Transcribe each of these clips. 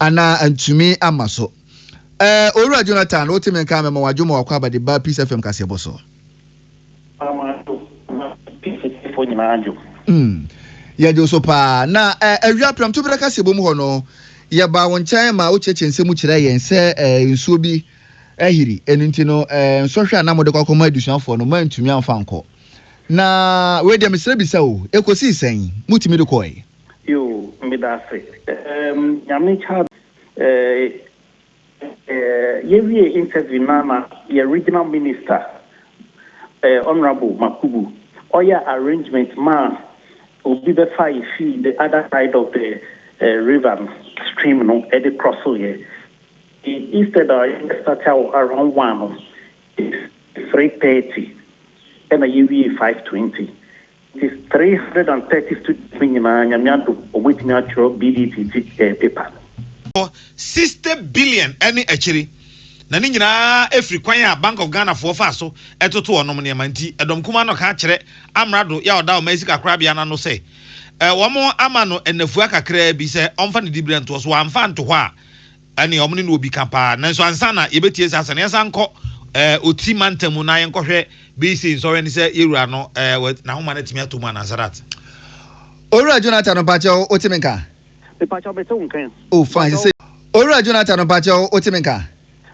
anaa antumi ama so ɛɛ owura jonathan wote me nka mɛma wadwo ma wakɔ abade ba peace fm kaseɛbɔ so mm. yɛdwo so paa na ɛɛ awia prɛmto berɛ kaseɛbɔ mu hɔ no yɛbaa wo nkyɛn ma wokyerɛkyerɛ nsɛm mu kyerɛ yɛn sɛ ɛɛ nsuo bi Ahiri. Ɛno nti no, eh, nsɔhwɛ a na mode kɔ akɔma adusuafoɔ no, moantumi amfa ankɔ. Na wei deɛ mesrɛ bisa o, ɛkɔsii sɛn? Motumi de kɔɔe? Yoo, medaase. Ehm, Nyame Charles, eh, eh, yɛwiee interview no a na yɛ Regional Minister, eh, Honourable Makubu, ɔyɛɛ arrangement maa obi bɛfaeɛ fii the other side of the, eh, river no, stream no, de crossooeɛ. He instead a yɛ start wɔ around one no is three thirty ɛna yɛ wie five twenty nti three hundred and thirty students no nyinaa nyame adom wɔn atumi atwerɛ BDT ti ɛɛ paper no. Wɔ sixty billion ɛne akyire na ne nyinaa ɛfiri kwan a Bank of Ghana foɔ faa so ɛtoto wɔnom nneɛma nti ɛdɔm kumaa no kaa kyerɛ Amrado yɛ a ɔda ɔman sika korabea no ano sɛ wɔn ama no nnafua kakraa bi sɛ ɔmfa ne dibrɛ ntoɔ so wɔamfa anto hɔ a ɛne ɔmo ne no wɔ bi ka paa. Nanso ansa na yɛbɛtie saa asɛm no, yɛnsan nkɔ ɛɛ Oti mantam mu na yɛnkɔhwɛ BC nsɔhwɛ no sɛ yɛwura no ɛɛ wɔ n'ahoma no atumi atɔ mu anaa Sadat. Owura Jonathan mpakyɛw wo te me nka? Mepakyɛw mete wo nka. Oh fine sɛ. Owura Jonathan mpakyɛw wo te me nka?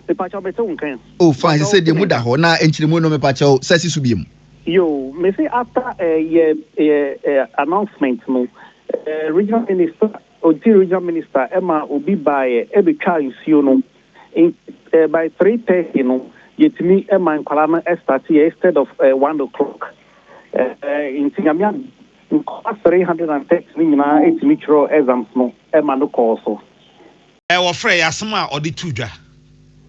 Mepakyɛw mete wo nka. Oh fine sɛ sɛ deɛ mu da hɔ na nkyeremu no mepakyɛw sɛ si so biom. Yoo mese after ɛɛ yɛ ɛɛ announcement no ɛɛ regional minister Ɔnti regional minister maa obi baeɛ bɛtwaa nsuo no nti by three thirty no yɛtumi ma nkwadaa no starteɛ instead of one o'clock nti Nyame adom nkwadaa three hundred and thirty no nyinaa tumi twerɛɛ exams no ma no kɔɔ so. Wɔfrɛɛ yɛn asɛm a ɔde too dwa.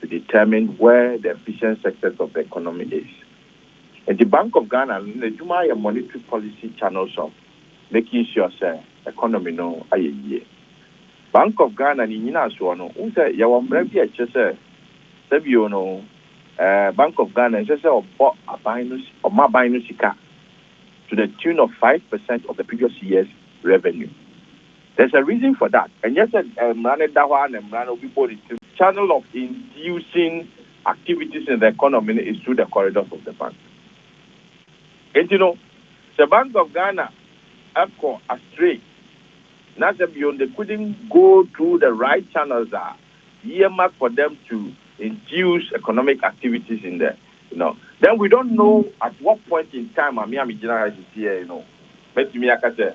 to determine where the efficient sectors of the economy is. Enti Bank of Ghana no n'adwuma ayɛ monetary policy channels of making sure sɛ economy no ayɛ yie. Bank of Ghana ne nyinasoɔ no, wohu sɛ yɛwɔ mmara bi a ɛkyerɛ sɛ sɛ bio no eh, Bank of Ghana ɛnsɛ sɛ ɔbɔ aban no, ɔma aban no sika to the tune of five percent of the previous year's revenue. There's a reason for that, ɛnyɛ sɛ mmara no da hɔ ara na mmara no obi bɔ ne tirim, channel of inducing activities in the economy no is through the corridors of the bank. Enti no sɛ Bank of Ghana kɔ astray na sɛ bio no they couldn't go through the right channels a, year mark for them to induce economic activities in the you know, then we don't know at what point in time a me a megyina ha sesei yi no mɛtumi aka sɛ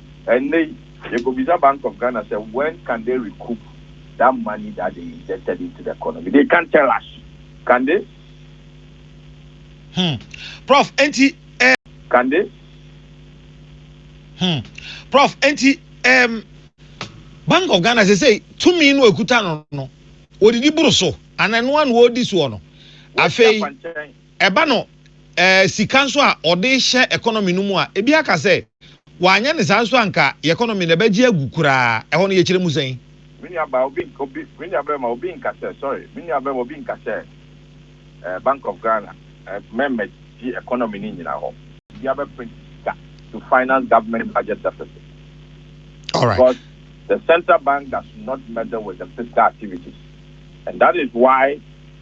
Ɛnnɛ yi, yɛkɔbisa Bank of Ghana sɛ, when can they recoup that money that they injected into the economy? They can't tell us, can they? Hmm. Prof, enti eh, Can they? Hmm. Prof, enti um, Bank of Ghana sesei tumi no ɛkuta no no, wɔdidi boro so, anaa ɛno ano wɔdi soɔ no? Wɔdi afei. akwankyɛn. Ɛba no ɛɛ sika nso a ɔde hyɛ economy no mu a, ebi aka sɛ wanyɛ no saa nso a anka yɛ economy no ɛbɛgye agu koraa. Ɛhɔ no yɛkyerɛ mu sɛn? Me nuabaa, obi nka, obi, me nuabarima, obi nka sɛ, sorry, me nuabarima, obi nka sɛ ɛɛ Bank of Ghana ɛɛ mɛmɛ gye economy no nyina hɔ. Obi abɛ print sika to finance government budget deficit because the central bank does not meddle with the fiscal activities and that is why.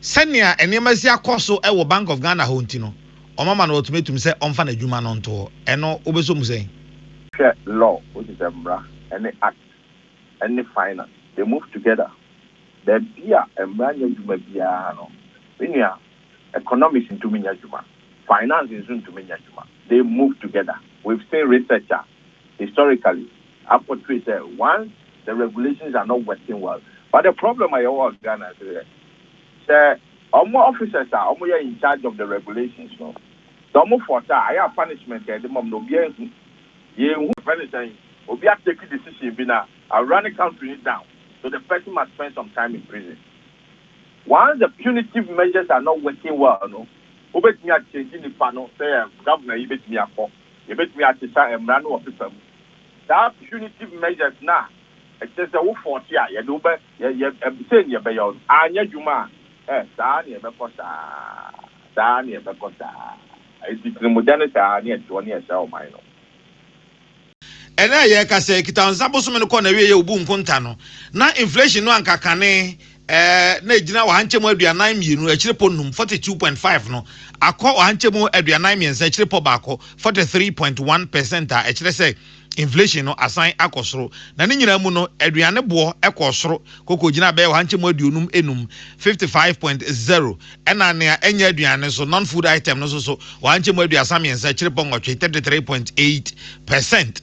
Sɛnea nneɛma si akɔ so wɔ Bank of Ghana hɔ nti no, wɔama no ultimatum sɛ ɔmfa n'adwuma no nto hɔ. Ɛno, wobɛsɔ mu sɛn? Hwɛ Law, which is mmara, ne Act, ne Finance, they move together. Baabi a mmara nyɛ adwuma biara no, me nua, economics ntumi nyɛ adwuma, finance nso ntumi nyɛ adwuma, they move together. We've seen research a, historically, a portray sɛ once the regulations are not working well but the problem a yɛwɔ wɔ Ghana nso yɛ sɛ wɔn officers a wɔyɛ in charge of the regulations no sɛ wɔn fault a ayɛ a punishment a yɛde ma wɔn no obiara nhu yɛnhu yɛfrɛ no sɛn obi a take decision bi na a run country no down so the person must spend some time in prison once the punitive measures are not working well no wobɛtumi a change nipa no sɛ yɛ governor yi bɛtumi akɔ. Yɛbɛtumi akyesa mmara no wɔ pepa mu. Saa punitive measures no a ɛkyerɛ sɛ wo fɔɔte a yɛde wo bɛ yɛ yɛ sei ne yɛbɛyɛ wo no anyɛ adwuma a, eh, saa ara na yɛbɛkɔ saa ara, saa ara na yɛbɛkɔ saa ara. Enti tirimudɛ no saa ara na yɛte hɔ na yɛsɛe ɔman no. Ɛnnɛ a yɛrekasa yi, Kitaw Nsa bosome no kɔɔ n'awieeɛ a obu nkonta no, na inflation no anka kane na ɛgyina ɔhankyɛmu aduanan mmienu akyirepɔ nnum, forty two point five, no akɔ ɔhankyɛmu aduanan mmiɛnsa akyirepɔ baako, forty three point one percent, a ɛkyerɛ sɛ inflation no asan akɔ soro. Na ne nyinaa mu no, aduane boɔ kɔɔ soro kokɔgyinaa bɛyɛ ɔhankyɛmu aduonum nnum, fifty five point zero, ɛna nea ɛnyɛ aduane so, non-food item, no nso so ɔhankyɛmu aduasa mmiɛnsa akyirepɔ nwɔtwe, thirty three point eight percent.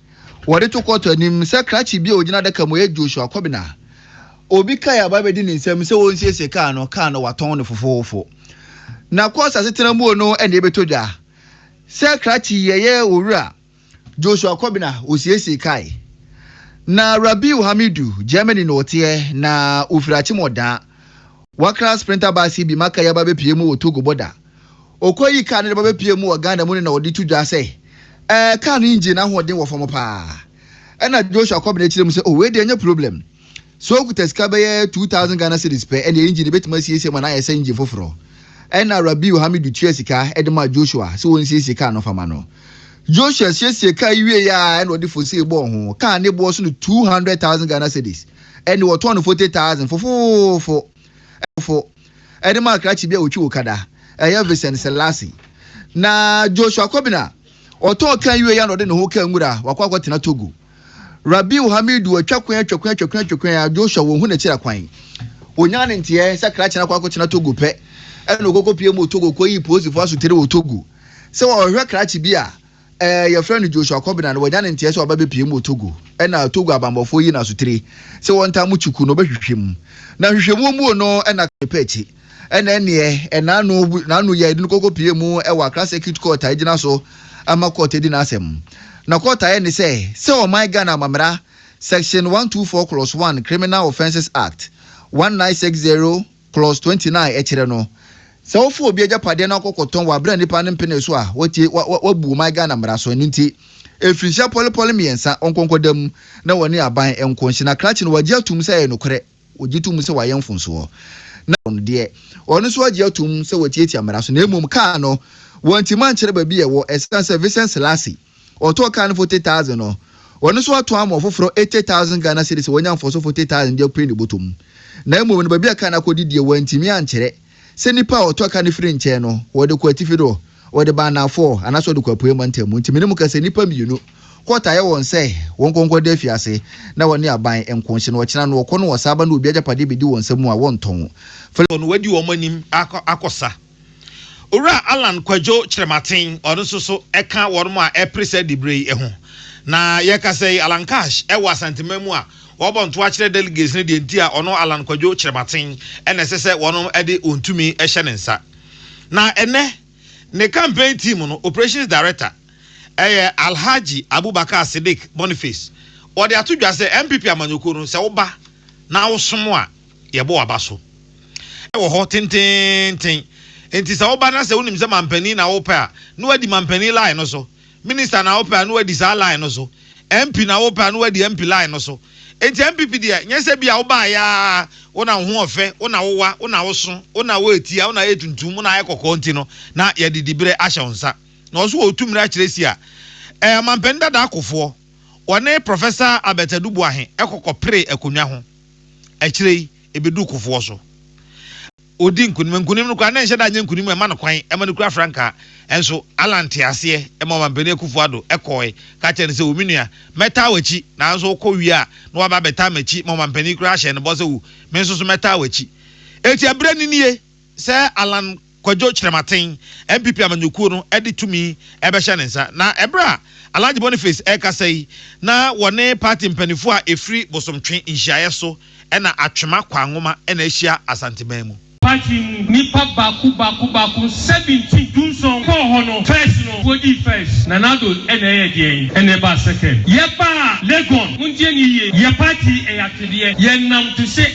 Wɔde to kɔɔto anim sɛ krakye bi a ogyina adaka mu yɛ Joshua Kobina. Obi kae aba bedi ne nsam sɛ onsiesie kaa no, kaa no wɔatɔn no fofoofo. Na kɔɔs asetena mu no na ebetɔ dwa. Sɛ krakye yi ɛyɛ Owura Joshua Kobina osiesie kae. Na Rabiu Hamidu, Germany na ɔteɛ na ofiri Akyem Ɔdaa. Wakra Sprinter bus yi bi ma kae aba bepue mu wɔ Togo bɔda. Okoye yi kaa no de bɛbɛpue mu wɔ Ghana mu no na wɔde to dwa sɛ ɛɛ kaa no engine no ahoɔden wɔ fam paa. Ɛna Joshua kɔbena akyire mu sɛ, Oh, wei deɛ ɛnyɛ problem. Sɛ okuta sika bɛyɛ two thousand Ghana cedis pɛ, ɛnneɛ engine no bɛtumi asiesie ma no ayɛ sɛ engine foforɔ. Ɛna Rabiu Hamidu tuaa sika de maa Joshua sɛ ɔnsiesie kaa no mfa mma no. Joshua siesiee kaa yi wieeɛ a, ɛna ɔde fosee bɔɔ ho. Kaa no boɔ so no two hundred thousand Ghana cedis. Ɛnneɛ wɔtɔɔ no forty thousand fofoofo. Ɛde maa krakye bi a otwi wɔ Kada, ɛyɛ Vincent Selassie. Na Joshua Kobina, ɔtɔɔ kan wiei a na ɔde ne ho kaa nwura a wakɔ akɔtena Togo. Rabiu Hamidu atwa kwan atwa kwan atwa kwan atwa kwan a Joshua wɔnhu n'akyiri akwan. Onyaa ne nteɛɛ sɛ krakye no akɔ akɔtena Togo pɛ na okokopue mu wɔ Togo kɔyii polisifo asotiri wɔ Togo sɛ ɔrehwɛ krakye bi a Ɛɛ, yɛfrɛ no Joshua Kobina no, wanya ne nteɛ sɛ ɔba bɛpie mu wɔ Togo. Ɛna Togo abanbɔfoɔ yi na sotire sɛ wɔntaa mo kyi ku no, ɔbɛhwehwɛ mu. Na nhwehwɛmuo muo no, ɛna Kane pɛ akyi. Ɛna ɛneɛ, ɛna ano, n'ano yɛɛ dene kɔkɔ pie mu wɔ Accra Circuit Court a ɛgyina so ma Court di n'asɛm. Na Court ayɛ ne sɛ, sɛ ɔman Ghana amammera Section 124 Clause 1 Criminal Offences Act, 1960, Clause twenty nine, Ɛkyerɛ no sɛ wofa obi agyapadeɛ na wokɔ kɔtɔn wɔ aberɛ a nnipa no mpenee so a, woatie, wa, wa, woabu ɔman Ghana mmara so. Ɛno nti, mfirinhyia pɔlepɔle mmiɛnsa, wɔnkɔ nkɔda mu na wɔne aban nko nhye. Na krakye no, wɔagye atom sɛ ɛyɛ nokorɛ. Wɔgye tom sɛ wayɛ mfomsoɔ. Na, no deɛ, ɔno nso agye atom sɛ watiatia mmara so. Na mmom, kaa no, wɔantumi ankyerɛ baabi a ɛwɔ, ɛsiane sɛ Vincent Selassie, ɔtɔɔ kaa no forty thousand no, ɔno nso atɔn ama ɔfoforɔ eighty thousand Ghana cedis a wanya mfɔso forty thousand de apue ne bɔtɔ mu. Na mmom no baabi a kaa no akɔdi deɛ wantumi ankyerɛ sɛ nipa a ɔtɔ kaa no firi nkyɛn no ɔde kɔ atifi do, ɔde ba anaafoɔ anaasɛ ɔde kɔ apueɛ mantam mu. Nti menim ka sɛ nnipa mmienu kɔɔt ayɛ wɔn sɛ wɔnkɔ nkɔda afiase na wɔne aban nko nhyɛ na ɔkyena no ɔkɔ no wɔsan ba na obi agyapadeɛ bɛdi wɔn nsa mu a wɔntɔn. Wɔn wadi wɔn anim akɔ akɔsa. Owura Allan Kwadwo Kyerematen, ɔno nso so ka wɔn a ɛpere saa diberɛ yi ho. Na yɛkasa yi, Allan Cash wɔ Asanteman mu a ɔrebɔ ntoa akyerɛ delegates no deɛ nti a ɔno Allan Kwadwo Kyerematen na ɛsɛ sɛ wɔn de wɔn tumi hyɛ ne nsa. Na ɛnɛ, ne campaign team no operations director ɛyɛ Alhaji Abubakar Siddiq Boniface, ɔde ato dwa sɛ NPP amanyɔkuo no sɛ woba na wosom a, yɛbɔ aba so wɔ hɔ tenteenten. Enti sɛ woba na sɛ wonim sɛ mampanin na wopɛ a, na woadi mampanin line no so. Minister na wopɛ a, na woadi saa line no so. MP na wopɛ a, na woadi MP line no so. Enti NPP deɛ, nyɛ sɛ ebia wobaeɛ ara, wo na wo ho ɔfɛ, wo na wowa, wo na woso, wo na woyɛ tia, wo na woyɛ tuntum, wo na woayɛ kɔkɔɔ nti no, na yɛde diberɛ ahyɛ wo nsa. Na wɔn nso wɔwɔ tu mmerɛ akyerɛ si a ɛɛ ɔmampanin dada akofoɔ, wɔne Professor Albert Adu Boahe kɔ kɔperee akonnwa ho. Akyire yi, ɛbɛduu Kofoɔ so. Ɔdii nkonim. Nkonim no koraa, na ɛnhyɛ da nyɛ nkonim a ɛma no kwan, ɛma no kura frankaa. Nso, Allah nteaseɛ ma Ɔmampanin Akuffo Addo kɔɔe, ka kyerɛɛ no sɛ, O me nua, mɛtaa w'akyi, nanso wokɔ wie a, na waba abɛtaa m'akyi ma Ɔmampanin koraa hyɛɛ no bɔ sɛ, O, me nso so mɛtaa w'akyi. Enti, ɛberɛ no nie. sɛ Allan Kwadwo Kyerɛmaten, NPP amanyɔkuo no de tumi bɛhyɛ ne nsa. Na ɛberɛ a Alhaji Boniface rekasa yi, na wɔne party mpaninfoɔ a ɛfiri Bosomtwe nhyiaeɛ so na Atwema Kwangoma na ahyia Asanteman mu. Party mu nnipa baako baako baako seventeen, dunson, kɔɔ hɔ no, first no wɔdii first, Nana Addo na ɛyɛ deɛn? Ɛna ɛbaa second. Yɛbaa Legon, montie no yie, yɛ party yɛ atwedeɛ, yɛnam to se,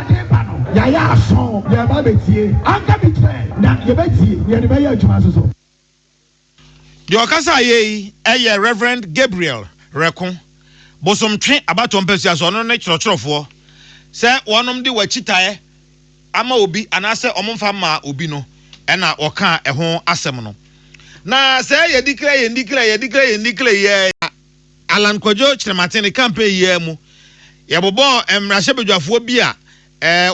Ade reba no, yɛayɛ aso, yɛreba abɛtie. Anka bi kyerɛ, na yɛbɛtie, na yɛde bɛyɛ adwuma nso so. Deɛ ɔkasaa yɛ yi yɛ Rev. Gabriel Reko, Bosomtwe abatoɔ mpasua so, ɔno ne twerɛtwerɛfoɔ. Sɛ wɔnom de w'akyitaeɛ ama obi anaasɛ wɔn mfa mmaa obi no na ɔkaa ɛho asɛm no. Na sɛ yɛdikilɛ yɛndikilɛ yɛdikilɛ yɛndikilɛ yɛɛ. Allan Kwadwo Kyerematen ne campaign yi ara mu, yɛbobɔɔ mmarahyɛbadwafoɔ bi a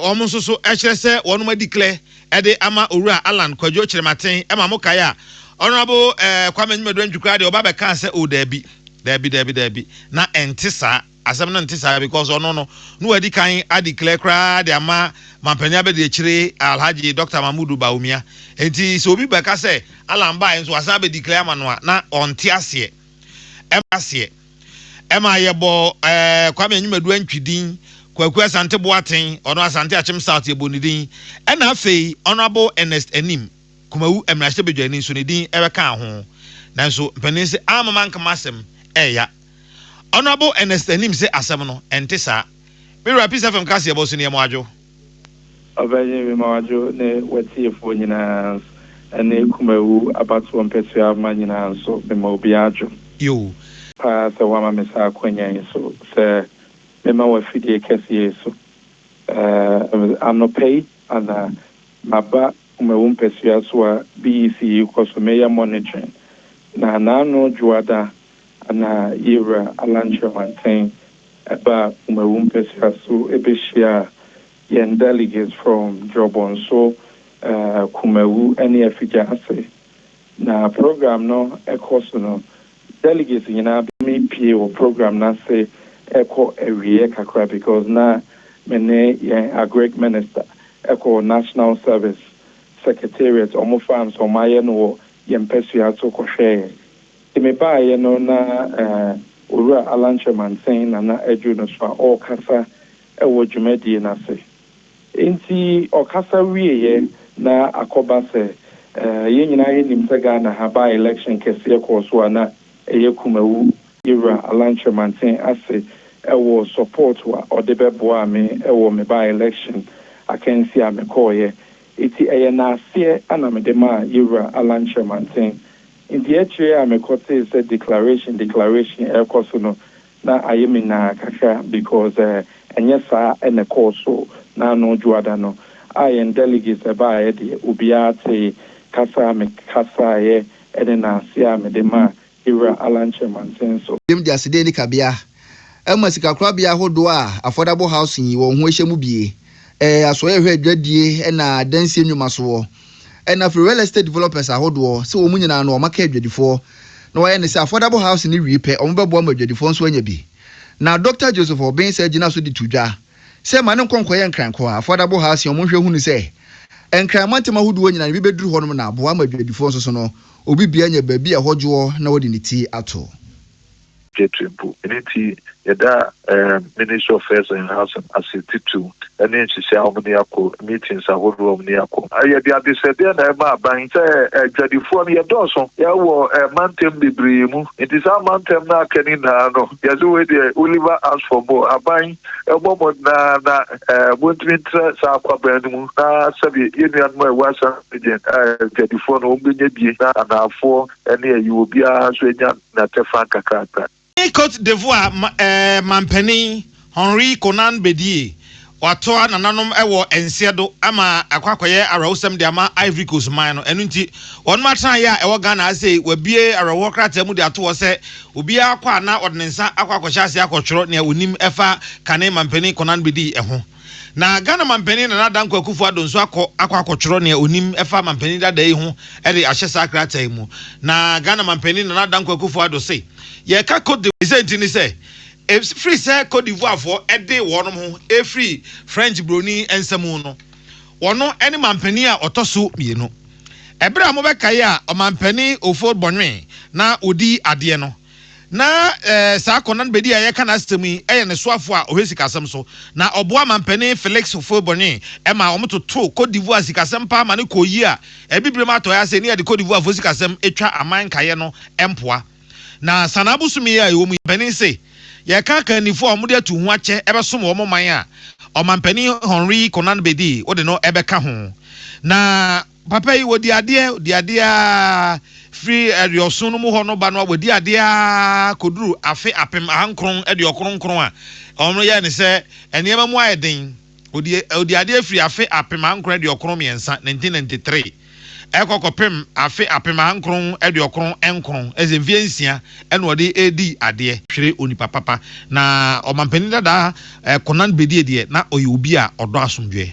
wɔn nso so kyerɛ sɛ wɔnom a declare de ama Owura Allan Kwadwo Kyerematen ma mo kae a, Honourable Kwame Nyimadu Antwi koraa deɛ ɔba bɛkaa sɛ oh daabi, daabi, daabi, daabi, na ɛnte saa, asɛm no nte saa because ɔno no na wadi kan a declare koraa de ama Manpanin Abadiakyire Alhaji Doctor Mahmood Bawumia. Enti sɛ obi bɛka sɛ Allan baeɛ nso wasan abɛ declare ama no a, na ɔnte aseɛ. ɛma aseɛ. Ɛma yɛbɔɔ ɛɛ Kwame Anyimadu Antwi din, Kwaku Asante Boateng, ɔno Asante Akyem South yɛbɔɔ ne din, ɛna afei Honourable Ernest Anim, Kumawu mmarahyɛbadwani nso ne din ɛbɛkaa ho. Nanso mpanin se amma manka m'asɛm ɛɛya. Honourable Ernest Anim se asɛm no ɛnte saa. Me wura Peace FM kaseɛbɔ so neɛ mo adwo. Ɔbɛyɛ me ma wadwo ne w'atiefoɔ nyinaa nso, ɛne Kumawu abatoɔ mpɛsoa mma nyinaa nso, mema obiara adwo. Yoo. Paa sɛ woama me saa akwanya yi so sɛ mema w'afidie kɛseɛ yi so ɛɛ anɔpa yi anaa maba Kumawu mpɛsoa so a BEC yi kɔ so meyɛ monitoring na naano dwoada ana Yewura Alan Kyerematen baa Kumawu mpɛsua so behyiaa yɛn delegates from Drɔbɔnso, Kumawu ne Afigya ase. Na program no rekɔ so no, delegates nyinaa bepue wɔ program no ase rekɔ awieɛ kakra because na me ne yɛn Agric Minister kɔ National Service Secretariat, wɔn farms a wɔayɛ no wɔ yɛn mpɛsua so kɔhwɛeɛ. Nti me baeɛ no na Owura Allan Kyeremansɛn na na aduru no so a ɔrekasa wɔ dwumadie no ase. Nti ɔkasa wieeɛ na akɔba sɛ yɛn nyinaa yɛnim sɛ Ghana ha by election kɛseɛ kɔɔ so a na ɛyɛ Kumawu Yewura Allan Kyeremansɛn ase wɔ support a ɔde bɛboaa me wɔ me by election akansie a mekɔeɛ. Nti ɛyɛ n'aseɛ na mede maa Yewura Allan Kyeremansɛn Enti akyire a mekɔtee sɛ declaration declaration rekɔ so no na ayɛ me naa kakra because ɛnyɛ saa na ɛkɔɔ so na ano dwoada no a yɛn delegates ɛbaaeɛ deɛ obiara tee kasa a mekasaeɛ ne naaseɛ a mede maa Yewura Alan Kyeremanseh nso. Dwam de aseda ani kabea ɛma sikakorabea ahodoɔ a Affordable Housing yi wɔn ho ahyɛ mu bue, ɛɛ asoɛeɛ hwɛ adwadie ɛna adansie nnwomasoɔ, ɛna firi real estate developers ahodoɔ sɛ wɔn nyinaa no wɔaka adwadifoɔ na wɔayɛ ne sɛ Affordable Housing no wie pɛ wɔbɛboa ma adwadifoɔ nso anya bi. Na Dɔkta Joseph Obensah gyina so de to dwa sɛ ma no nkɔ nkɔyɛ Nkrankɔa Affordable Housing wɔn nhwɛ hunu sɛ Nkran mantam ahodoɔ nyinaa no bi bɛduru hɔnom na aboa ama adwadifoɔ nso so no obi bia anya baabi a ɛhɔ dwoɔ na wɔde ne ti ato. Gateway mpo. Ɛno nti, yɛda Ministry of Fares and Housing ase titiriw ne nhyehyɛe a wɔn de akɔ, meetings ahodoɔ a wɔn de akɔ. Yɛde adesrɛdeɛ na ɛrema aban sɛ adwadifoɔ no yɛdɔɔso wɔ mantam bebree mu, nti saa mantam no a aka no nyinaa no yɛse wei deɛ Oliver ask for more, aban bɔ mmɔden ara na montumi ntra saa akwaban no mu na sɛdeɛ yɛn nuanom a ɛwɔ Ashanti Region adwadifoɔ no wɔn bɛnya bie na anaafoɔ ne ayi wɔ biara nso anya na kyɛfa kakrakra. Ɔne Cote d'Ivoire manpanin Henri Konan Bedie watoa nananom wɔ nseɛ do ama akɔ akɔyɛ awerɛhosɛm de ama Ivory Coast man no. Ɛno nti, wɔnom atenaeɛ a ɛwɔ Ghana ha sei, wɔabue awerɛhoɔ krataa mu de ato hɔ sɛ obiara kɔ a na ɔde ne nsa akɔ akɔhyɛ aseɛ akɔtwerɛ nea ɔnim ɛfa kane manpanin Konan Bedie ho. Na Ghana Manpanin Nana Dankwa Akufo-Addo nso akɔ akɔ akɔtwerɛ nea ɔnim fa Manpanin Dada yi ho de ahyɛ saa krataa yi mu. Na Ghana Manpanin Nana Dankwa Akufo-Addo se, Yɛreka Cote d'Ivoire. Ne sɛ nti ne sɛ, ɛfiri sɛ Cote d'Ivoirefoɔ de wɔnom ho firi French broni nsa mu no, wɔno ne manpanin a ɔtɔ so mmienu. Ɛberɛ a mobɛkae a Ɔmanpanin Ofori Bonwin na ɔdi adeɛ no, Ná saa Conan Bedi a yɛreka n'asɛm yi yɛ ne soafo a ɔhwɛ sikasɛm so, na ɔboa Manpanin Felix Houphouët-Boigny ma wɔtotoo Côte d'Ivoire sikasɛm paa ma no kɔɔ yie a Abibirem Atɔe ase ne yɛde Côte d'Ivoirefo sikasɛm twa aman nkaeɛ no mpoa. Na Sanaa bosome yi a yɛwɔ mu yi, mpanin se yɛka akannifo a wɔde atu ho akyɛ bɛsom wɔn man a, Ɔmanpanin Henri Conan Bedi, wode no bɛka ho. Na. Papa yi, ɔdi adeɛ, ɔdi adeɛ ara, firi aduɔson no mu hɔ no ba no a, wadi adeɛ ara kɔduru afe apem ahankron aduɔkron nkron a, wɔn yɛ ne sɛ nneɛma mu ayɛ den. Ɔdi, ɔdi adeɛ firi afe apem ahankron aduɔkron mmiɛnsa, 1993, ɛkɔ kɔpem afe apem ahankron aduɔkron nkron, ɛyɛ sɛ mfeɛ nsia na ɔde redi adeɛ. Hwere onipa papa. Na ɔmampanin dada Konan Bedie deɛ, na ɔyɛ obi a ɔdɔ asomdwoeɛ.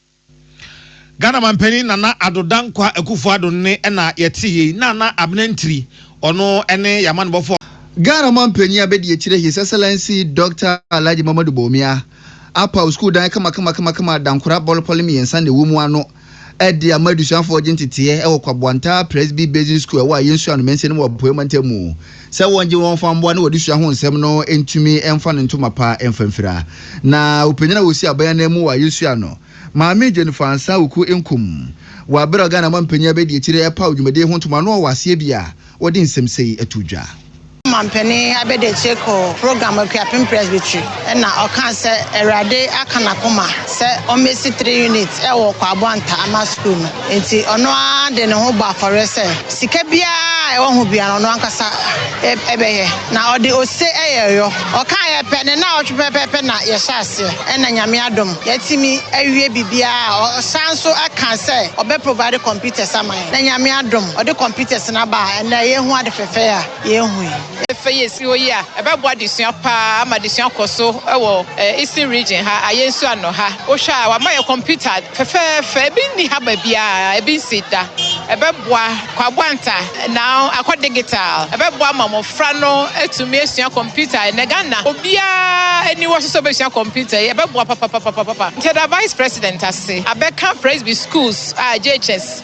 Ghana Manpanin Nana Addo Dankwa Akufo Addo nne na yɛte yei. Nana Abena Ntiri, ɔno ne yɛn amanebɔfoɔ a. Ghana Manpanin Abɛdiakyire His Excellency Dɔkta Alhaji Mamadu Bawumia apaw sukuu dan kamakama-kamakama a dankora bɔlopɔle mmiɛnsa na ɛwɔ mu ano de ama adusuafoɔ gye nteteɛ wɔ Kwaboantaa Presby Basic School a ɛwɔ Ayensua no mansin mu wɔ Apueɛ Mantam mu. sɛ wɔngye wɔn fa mmoa na wɔde sua ho nsɛm no ntumi mfa no ntoma pa mfa mfira. Na ɔpanyin a ɔsi aban anan mu a yɛsua no, Maame Jane Fansah Wuku Nkum, wɔ bere a Ghana mampanyin abɛdi akyire repaw dwumadi ho ntoma no wɔ aseɛ bi a wɔde nsɛm sei too dwa. Mampanin abɛdi akyire kɔɔ program Akuapem Presbytery ɛna ɔkaa sɛ Awurade aka n'akoma sɛ ɔmmɛsi three units ɛwɔ Kwaaboantah Ama Sukuu no. Enti ɔno ara de ne ho bɔ afɔreɛ sɛ sika biara a ɛwɔ ho biara ɔno ankasa bɛyɛ, na ɔde ose yɛ ɛyɔ. Ɔkaeɛ pɛ, ne nnawɔtwe pɛpɛɛpɛ na yɛhyɛ aseɛ, ɛna Nyame adom yɛatumi awie biribiara. Ɔsan nso kaa sɛ ɔbɛ provide computers ama yɛn, na Nyame adom ɔde computers no aba a ɛnnɛ yɛhu ade fɛfɛɛ a yɛhu yi. Afei a esi hɔ yi a, ɛbɛboa adesua paa ama adesua akɔ so wɔ Eastern Region ha, ayɛ nso ano ha. Wohwɛ a, wɔama yɛn kɔmputa fɛfɛɛfɛ, ebi nni ha baabiara, ebi nsii da. Ɛbɛboa Kwabo Anta, now akɔ digital. Ɛbɛboa ama mmofra no atumi asua kɔmputa. Ɛnnɛ Ghana, obiara ani wɔ so sɛ obesua kɔmputa yi, ɛbɛboa papapapapapa. Nti yɛda Vice President ase, abɛka Presby Schools a JHS.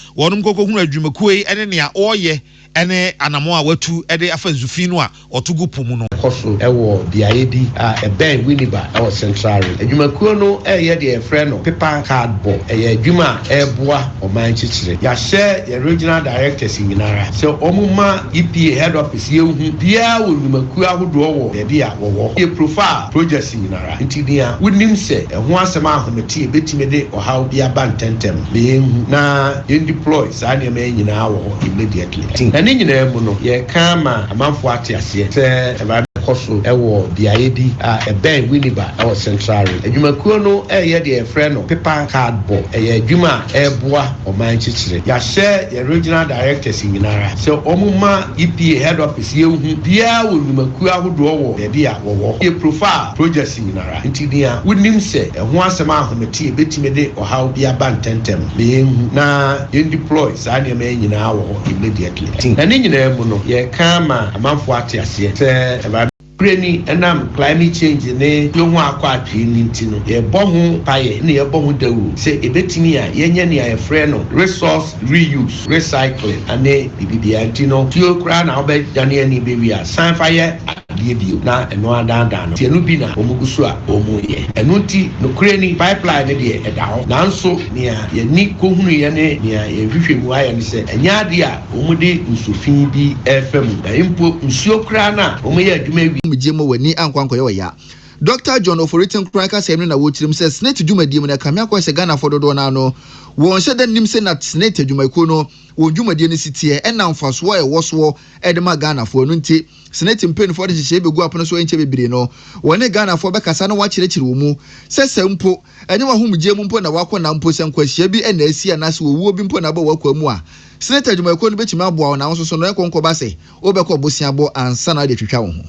wɔnom nkɔkɔ hunu adwumakuo yi ne nea wɔreyɛ ne anamɔn a wɔatu de afa nsu fi no a wɔto gu po mu no. Ɛkɔ so wɔ beaeɛ bi a ɛbɛn Winneba wɔ Central Ring. Adwumakuo no reyɛ deɛ yɛfrɛ no Paper Card Bɔ. Ɛyɛ adwuma a ɛreboa ɔman kyekyere. Yɛahyɛ yɛn Regional Directors nyinara sɛ wɔn ma EPA Head Office yɛnhu biara wɔ nnwumakuo ahodoɔ wɔ baabi a wɔwɔ. Yɛ profile projects nyinaa. ara. Enti nea wonim sɛ ɛho asɛm a ahometeɛ bɛtumi de ɔhaw bi aba ntɛmntɛm no, ma yɛnhu na yɛn deploy saa nneɛma yi nyinaa wɔ hɔ immediately. Te, na ne nyinaa mu no, yɛreka ama amanfoɔ ate aseɛ sɛ ɛba bɛkɔ so wɔ beaeɛ bi a ɛbɛn Winneba wɔ Central Rim. Adwumakuo no reyɛ deɛ yɛfrɛ no pepa card bɔ. Ɛyɛ adwuma a ɛreboa ɔman kyekyere. Yɛahyɛ yɛn regional directors nyinaa sɛ wɔmma EPA head office. Si yɛn hu biaa wɔ nnwumakuo ahodoɔ wɔ baabi a wɔwɔ. Yɛ profile projects nyinara nti nea wo nim sɛ ɛho asɛm a ahomete ɛbɛtumi de ɔhaw bi aba ntɛntɛm ma yɛn hu na yɛn deploy saa nneɛma yi nyinaa wɔ hɔ immediately. Ti na ne nyinaa mu no yɛ ka ama amanfoɔ ate aseɛ sɛ ɛba. Berɛ ni ɛnam climate change ne yɛn ho akɔ atwee no nti no yɛ bɔ ho mpaeɛ na yɛ bɔ ho dawuro sɛ ɛbɛtumi a yɛnyɛ nea yɛfrɛ no resource. reuse, recycling ne biribibiara nti no tuo koraa na wobɛdane ani bɛwie a san fa yɛ adeɛ bio na ɛno adaadaa no nti ɛno bi na wɔn gu so a wɔn reyɛ ɛno nti nokorɛ ni pipeline no deɛ ɛda hɔ nanso nea yɛn ani kɔhunuiɛ ne nea yɛn nhwehwɛmu ayɛ ne sɛ ɛnyɛ adeɛ a wɔn de nsu fi bi refa mu na mpo nsuo koraa no a wɔyɛ adwuma awie Gye ma w'ani ankɔ ankɔyɛ ɔya. Dɔkta John Ofori-Atten kura nkasɛɛ no na wɔkyerɛ mu sɛ Senate dwumadie mu no ɛkame akɔ sɛ Ghanafoɔ dodoɔ no ara no wɔn hyɛ da nnim sɛ na Senate adwumayɛkuo no wɔn dwumadie no si teɛ ɛna mfasoɔ a ɛwɔ soɔ de ma Ghanafoɔ ɛno nti Senate mpaninfoɔ de nhyehyɛeɛ bɛgu apono so ɛnkyɛ bebree no wɔne Ghanafoɔ bɛkasa na wɔakyerɛkyerɛ wɔn mu sɛ sɛ mpo ɛnyɛ w'ahomgyeɛ mu mpo na woakɔ na mpo sɛ nkwanhyia bi na asi anaasɛ owuo bi mpo na aba w'akwaa mu a Senate adwumayɛkuo no bɛtumi aboa wo na wo nso so no ɛnkɔ nkɔba sɛ Wobɛkɔ boseabɔ ansa na wode atwitwa wo ho.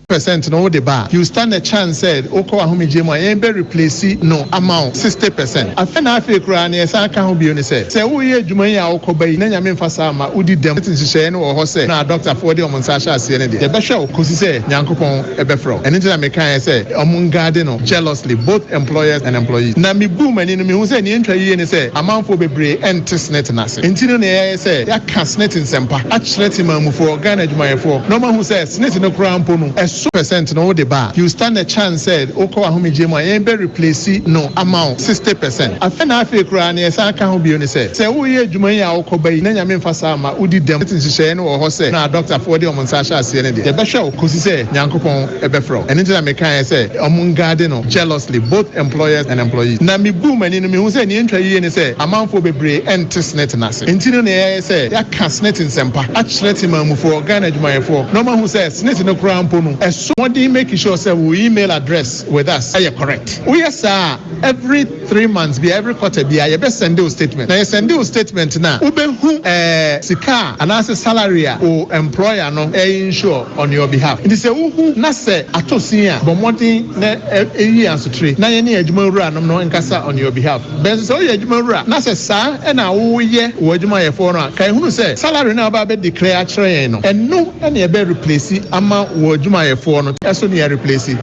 Percent no wode ba a you stand a chance sɛ wokɔ ahomegyeɛ mu a yɛn bɛ replace no ama wo sixty percent afei na afei koraa nea ɛsan ka ho bio ne sɛ sɛ woreyɛ adwuma yi a wokɔ ba yi na Nyame mfa saa mma wodi dɛm sɛ nhyehyɛeɛ no wɔ hɔ sɛ na adɔktafoɔ de wɔn nsa ahyɛ aseɛ no deɛ yɛbɛhwɛ wo kɔsi sɛ Nyankopɔn bɛfrɛ wo ɛno nti na mekaeɛ sɛ wɔn nguarde no jealously both employers and employees na mebuu m'ani no mehu sɛ nea ɛntwa yie ne sɛ amanfoɔ bebree nte snit no ase. Enti no nea yɛayɛ sɛ yɛaka Senate nsɛmpa akyerɛ Temanmufoɔ, Ghana adwumayɛfoɔ, na wɔahu sɛ Senate no koraa mpo no ɛso percent no wode ba a, you stand a chance sɛ wokɔ w'ahomegyeɛ mu a yɛn bɛ replace no ama wo sixty percent. Afei na afei koraa nea ɛsan ka ho bio ne sɛ, sɛ woreyɛ adwuma yi a wokɔba yi na Nyame mfa saa mma wodi dɛm a, Senate nhyehyɛeɛ no wɔ hɔ sɛ na adɔktafoɔ de wɔn nsa ahyɛ aseɛ no deɛ, yɛbɛhwɛ wo kɔsi sɛ Nyankopɔn. bɛfrɛ wo. Ɛno nti na mekaeɛ sɛ wɔngaade no jealously, both employers and employees. Na mebuu m'ani no, mehu sɛ nea ɛntwa yiye ne sɛ amanfoɔ bebree nte Senate no ase. Enti no na yɛayɛ sɛ yɛaka Senate nsɛmpa akyerɛ temanmufoɔ, Ghana adwumayɛfoɔ, na wɔahu sɛ Senate no koraa mpo no, ɛso mmɔden make sure sɛ wo email address with us yɛ correct. Woyɛ saa a, every. three months bia every quarter bia yɛbɛ sɛnde wo statement na yɛ sɛnde wo statement no a wo bɛ hu ɛɛ sika a anaasɛ salary a wo employer no ɛɛ insure on your behalf nti sɛ wo hu na sɛ atɔ sin a bɔ mmɔden na ɛ yi asotire na yɛne adwuma wura nom no nkasa on your behalf bɛ nso sɛ wo yɛ adwuma wura na sɛ saa ɛna wo yɛ wɔ adwuma yɛ foɔ no a kae hunu sɛ salary no a wo bɛ abɛ declare akyerɛ yɛn no ɛno ɛna yɛbɛ replace ama wɔ adwuma yɛ foɔ no ɛso ne yɛ replace.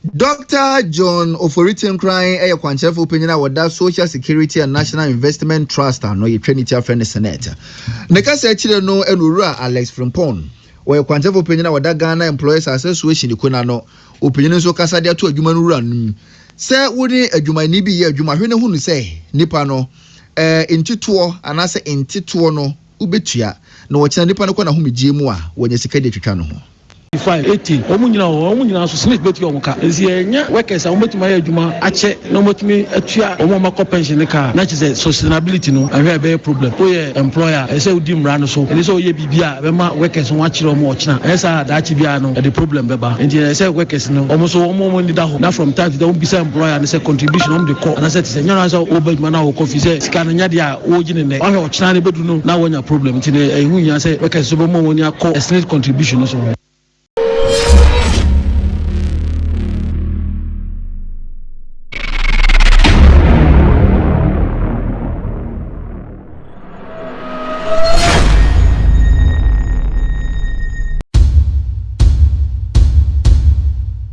Dɔkta John Ofori Tenkoran yɛ kwankyerɛfo panyin a ɔda Social Security and National Investment Trust ano, yɛtwa ne ti afrɛ no Senate. Ne kasa akyire no na Owura Alex Frimpong, ɔyɛ kwankyerɛfo panyin a ɔda Ghana Employers Association kuo no ano, ɔpanyin nso kasa de ato adwuma no wura anom. Sɛ wo ne adwumayɛni bi reyɛ adwuma, hwɛ na hunu sɛ nipa no, eh, ntitoɔ anaasɛ ntetoɔ no, Wobetua, na ɔkyena nipa no kɔ n'ahomegyeɛ mu a, wɔanya sika de atwitwa no ho. Fine, eighteen, wɔn nyinaa o, wɔn nyinaa nso Smith bɛtua wɔn ka, nti ɛnyɛ workers a wɔbɛtumi ayɛ adwuma akyɛ na wɔatumi atua wɔn a wɔakɔ pension no ka a, na kyerɛ sɛ sustainability no, ɛhɔ a ɛbɛyɛ problem. Woyɛ employer a, ɛsɛ sɛ wodi mmara no so, ɛnni sɛ woyɛ biribi a ɛbɛma workers no wɔakyere wɔn ɔkyena, anyɛ saa a daakye biara no ɛde problem bɛba, nti ɛyɛ sɛ workers no, wɔn nso wɔn ani da hɔ na from time to time wɔbisa employer no sɛ contribution a wɔde kɔ, anaasɛ te sɛ, ɛnyɛ noara sɛ woba adwuma na wokɔ, firi sɛ sika no nyɛ adeɛ a. wogye no nnɛ wahwɛ ɔkyena no bɛduru no na wanya problem nti no ɛho hia sɛ workers nso bɛmmɔ wɔn ani akɔ SNIT contribution no so ho.